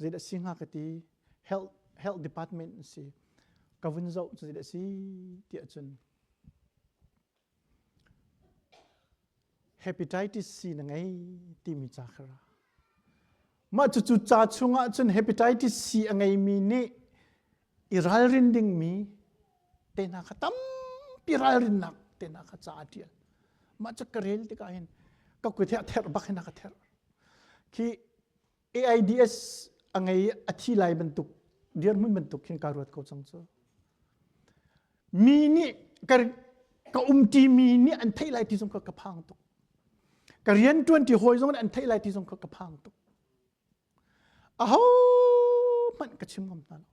Zeidah a si hnga ka ti. Health, health department an si. Ka vun zoh cu zeidah a si tiah cun hepatitis C na ngei timi ca kha ra. Mah cucu ca chung ah cun hepatitis C a ngeimi nih i ralrin dingmi tehna kha tampi ralrinnak tehna kha ca a ṭial mah cu ka rel tikah hin ka kuit hi a therh bak hin a ka therh khi AIDS a ngei a thi lai bantuk dirhmun bantuk hin ka ruat ko cang cu mi nih ka ka umṭi mi nih an theih lai ti zong kha ka phang tuk ka rian ṭuanṭi hawi zong nih an theih lai ti zong kha ka phang tuk ahohmanh ka chim ngam hna lo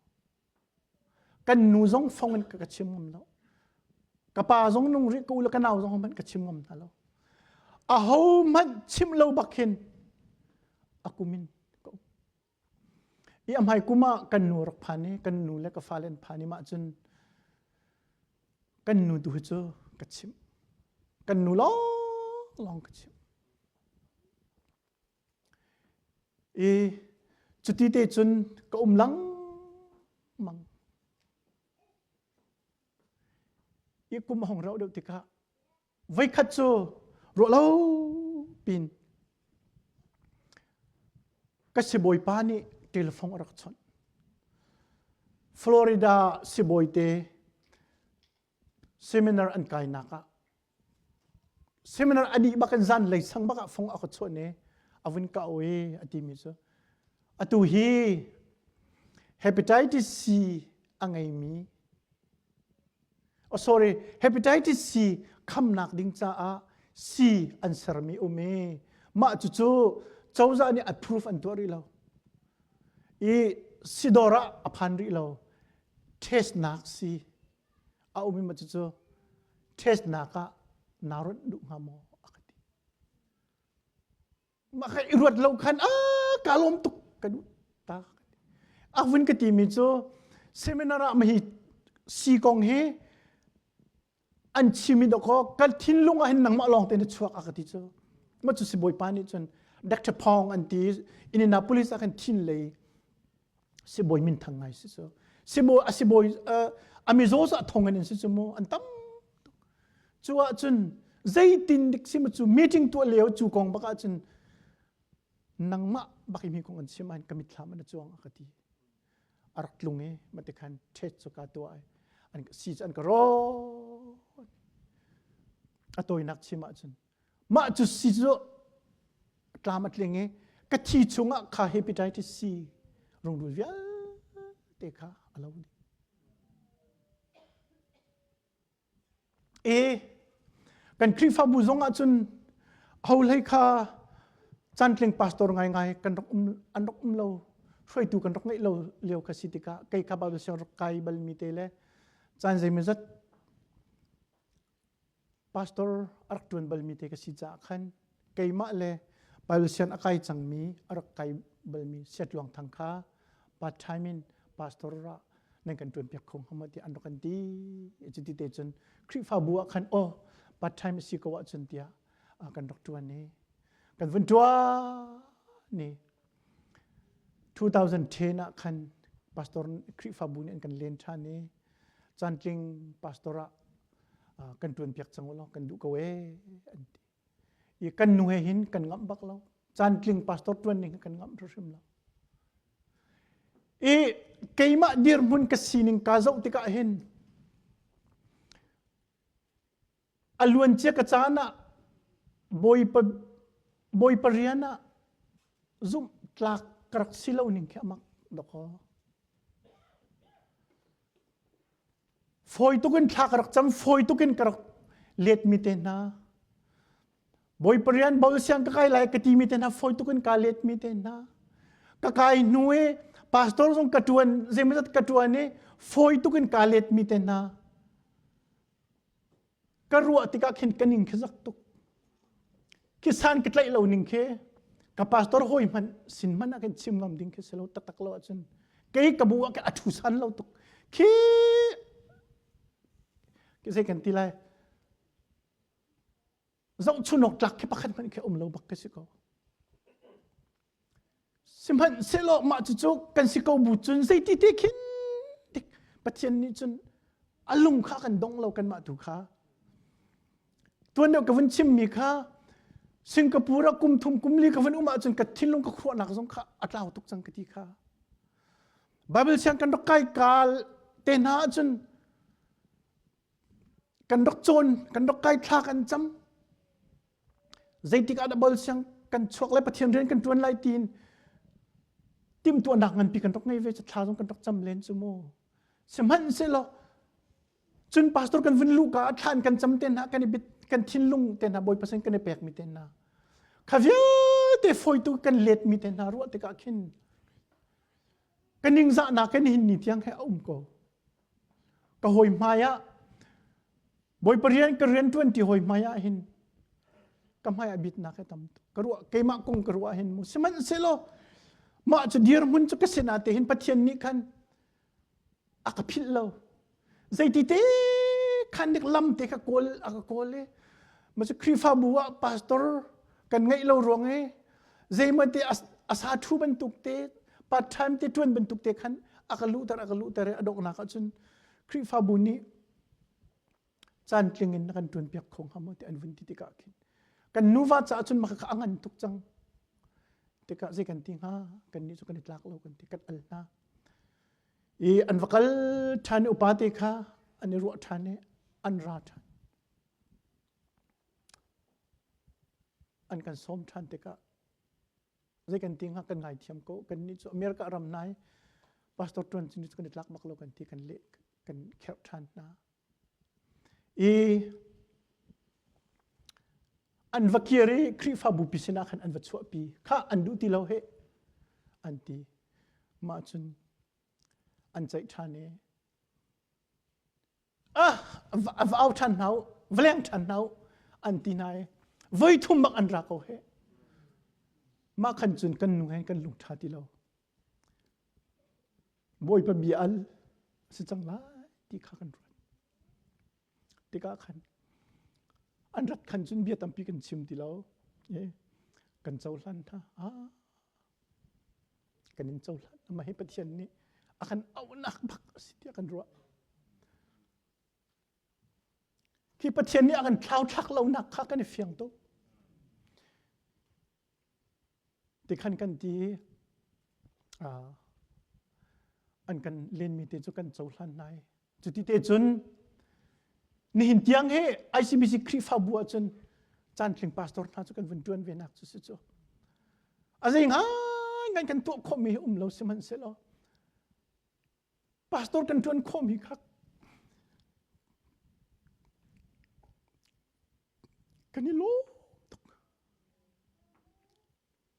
kan nu zong fong in ka chim ngam lo ka pa zong nung rih ka u le ka nau zong hmanh ka chim ngam hna lo ahohmanh chim lo bak hin a kumin ka um i a hmai kum ah kan nu rak phan i kan nu le ka fale an phan i mah cun kan nu tu hi cu ka chimh kan nu lawng lawng ka chimh I cuti te cun ka um lengmang. I kum a hong rauh deuh tikah voikhat cu ruah lo pin ka sibawipa nih telephone a rak chawnh. Florida sibawi te seminar an kainak ah seminar ani bak in zan lei sang bak ah fong a ka chuan i a vun ka o i a ti mi cu atu hi hepatitis C a ngei mi oh sorry hepatitis C khamnak ding caah C an ser mi um i mah cucu cozah nih approve an tuah rih lo i sidor ah a phan rih lo test nak si A ummi cucu ṭhesnak ah naa ruat duh hnga maw a ka ti. Mah ka i ruat lo khan a ka lawm tuk ka duh ta ka ti. A vun ka timi cu seminar ah mahi si kong hi an chimi dawkaw ka thinlung ah hin nangmah lawng te na chuak a ka ti cu. Ma cu si bawipa nih cun Dr. Phong an ti in Indianapolis ah khan thin lei sibawi min thang ngai si cu sibawi a sibawi a mizaw sa thong in si cu mu an tam cu ah cun zeitin dik sim cu meeting tu leo cu kong bak ah cun nangmah bak mi kong an sim an kamit thlam an chuang ka ti arak tlung e ma te khan thet chu ka to ai an si an ka ro atoi nak chim ah cun Mah cu si cu tlam a tling i ka thi chungah kha hepatitis C rungrul vialte kha a lo dih. E kan Khrihfabu zongah cun holei kha cantling pastor ngaingai kan rak um an rak um lo hruaitu kan rak ngeih lo lio ka si tikah kei kha Bible siangrup kai balmi te le caan zeimazat pastor arak ṭuan balmi te ka si caah khan keimah le Bible sian a kai cangmi arak kai balmi Setluang thang kha part time in pastor ra nan kan ṭuan piak kho hnga tiah an rak an ti cu ti te cun Khrihfabu ah khan aw part time si ko ahcun tiah kan rak ṭuan i kan vun ṭuan ni 2010 ah khan pastor Khrihfabu nih an kan len ṭhan i cantling pastor ah uh, kan ṭuan piak cang law kan duh ko e an ti i kan nu he hin kan ngamh bak lo cantling pastor ṭuan ning kan ngamh hrim lo i keimah dirhmun ka sining ka zoh tikah hin a luancia ka caan ah bawipa bawipa rian ah zumh tlak ka rak si lo ning khi amak dakaw fawi tukin thla ka rak cam fawi tukin ka rak let mi te hna bawipa rian bau siang ka kai lai ka ti mi te hna fawi tukin ka let mi te hna ka kai hnu e pastor zong ka tuan zeimazat ka tuan e fawi tukin ka let mi te hna ka ruah tikah khin ka ning khi zak tuk kisan ka tlaih lo ning khi ka pastor hoi hmanh sin hmanh ah kan chim ngam ding khi si lo taktak lo ahcun kei ka bu ah ka athu san lo tuk khi kisei kan ti lai zong chunawktlak khi pakhat hmanh khi um lo bak ka si ko sihmanhsehlaw mah cucu kan si ko bu cun zeiti te khin pathian nih cun a lung kha kan dong lo kanmah tu kha tuan ka vun chimmi kha singapore a kum thum kum li ka vun um ahcun ka thinlung ka khuahnak zong kha a tlau tuk cang ka ti kha bible siang kan rak kai kal te hna ahcun kan rak cawn kan rak kai thlak an cam zeitik ah dah bol siang kan chuak lai pathian rian kan ṭuan lai tiin timhtuahnak nganpi kan rak ngei ve thla zong kan rak cam len cu maw sihmanhsehlaw cun pastor kan vun luh ka thlan kan cam te hna kan i bit kan thinlung te hna bawi pasen kan i pek mi te hna kha vialte foitu kan let mi te hna ruah tikah khin ka ningzahnak kan hin ni thiang he a um ko ka hawi hmai ah Bawipa rian ka rian ṭuan ti hawi hmai ah hin ka hmai ah bitnak he tam ka ruah keimah kong ka ruah hin mu sihmanhsehlaw mah cu dirhmun cu ka sinah te hin Pathian nih khan a ka philh lo zeitite khan nik lam te kha kawl a ka kawl i ma cu Khrihfabu ah pastor kan ngeih lo ruang i zeimate asa thu bantuk te part time te tuan bantuk te khan aka luhter aka luhter a doknak ahcun Khrihfabu nih caan tling in na kan tuan piak kho ngam te an vun ti tikah khin kan nuva caah cun maka ka angan tuk cang tikah zei kan ti hnga kan ni chu kan i tlak lo kan ti kan al hna i an va kal ṭhan i upate kha an i ruah ṭhan i an ra ṭhan an kan sawm ṭhan tikah zei kan ti hnga kan ngaithiam ko. Kannih cu America ram nai pastor ṭuan cu kan i tlak bak lo kan ti kan leh kan kherh ṭhan hna. I an va kir i Khrihfabu pi sinah khan an va chuahpi. Kha an duh ti lo he an ti. Mah cun an ceih ṭhan i va au ṭhan hna u, va leng ṭhan hna u, an ti hna i voi thum bak an ra ko heh. Mah khan cun kan nu hen kan lungṭha ti lo. Bawipa bia al a si cang lai ti kha kan ruat. Tikah khan an rat khan cun bia tampi kan chim ti lo. kan cohlan hna. Ah, kan in cohlan. Mah hi Pathian nih a kan auhnak bak a si tiah kan ruah. Hi Pathian nih a kan thlauthlak lonak kha kan i fiang tuk. Tikhan kan ti an kan lenmi te cu kan cohlan nai Cuti te cun nihin tiang hi ICBC Khrihfabu ah cun caantling pastor hna cu kan vun ṭuan ve nak cu si cu. A zei ngaingai kan tuah khawhmi hi um lo sihmanhsehlaw pastor kan ṭuan khawhmi kha kan i lawm tuk.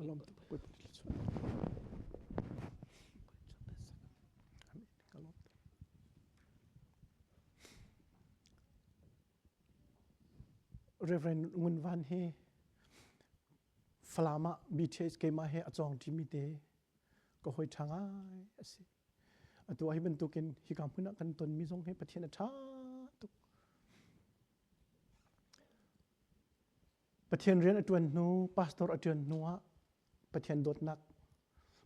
A lawm tuk pui pui thil cu. A lawm tuk. Reverend Ngun Van hi Falam ah BTH keimah he a cawng ṭimi te ka hoi ṭha ngai a si. Atu ah hi bantukin hika hmun ah kan tonmi zong hi Pathian a ṭha tuk. Pathian rian a ṭuan hnu, pastor a ṭuan hnu ah Pathian dawtnak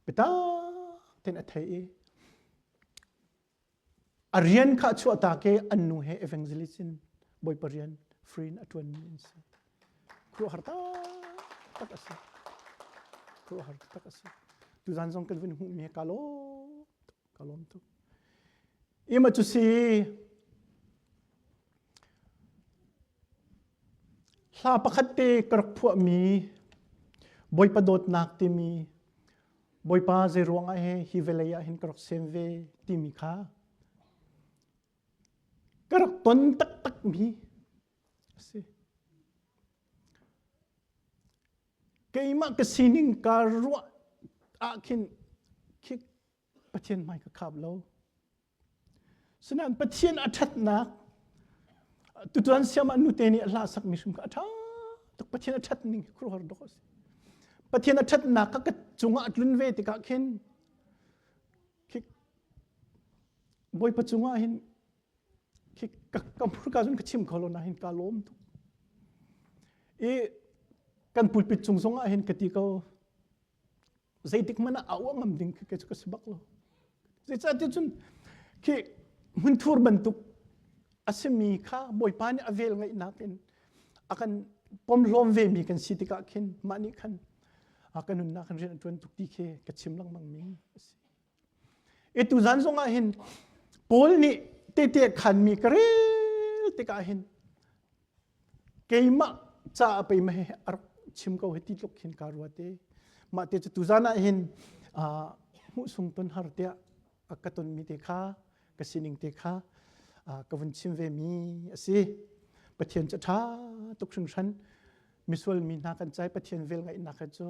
bitak ten a thei i a rian kha a chuahtak i an nu he evangelist in Bawipa rian free in a ṭuanmi an si. Khuaruahhar taktak a si. Khuaruahhar taktak a si. Tuzan zong kan vun hmuhmi ka lawm tuk, ka lawm tuk. Ima cu si hla pakhat te ka rak phuahmi Bawipa dawtnak timi Bawipa zei ruangah he hi vawlei ah hin ka rak sem ve timi kha ka rak ton taktakmi Keimah ka sining kaa ruah ah khin khi Pathian hmai ka khap lo. Sinain Pathian a ṭhatnak tutuan siamah nute nih a hla sak mi hrum kha a ṭha tak Pathian a ṭhat ning hi khuruhar dawk a si. Pathian a ṭhatnak kha ka cungah a tlun ve tikah khin Bawipa cungah hin ka hmurka cun ka chim kho lo nain kaa lawm tuk i kan pulpit cung zong ah hin ka ti ko zeitik hmanh ah a uah ngam ding khi cu ka si bak lo zeicahtiah cun khi hmunthur bantuk a simi kha bawipa nih a vel ngaihnak in a kan pomhlawm ve mi kan si tikah khin mah nih khan a ka nunnak kan rian a ṭuan tuk ti khi ka chim lengmang mi a si Ituzan zongah hin Paul nih tete khanmi ka rel tikah hin keimah ca a pei mah a rak chim ko hi ti tluk hin ka ruat i mah te cu tuzan ah hin hmuhsung ton har tiah a ka tonmi te kha ka sining te kha ka vun chim ve mi a si Pathian cu ṭha tuk hringhran misual mi hna kan cai Pathian vel ngaihnak cu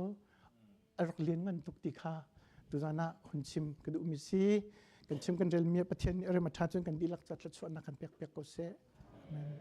a rak lianngan tuk ti kha tuzan ah hun chim ka duhmi si kan chim kan relmi pathian nih rem a ṭha cun kan dihlak ca thluachuahnak kan pek piak ko seh amen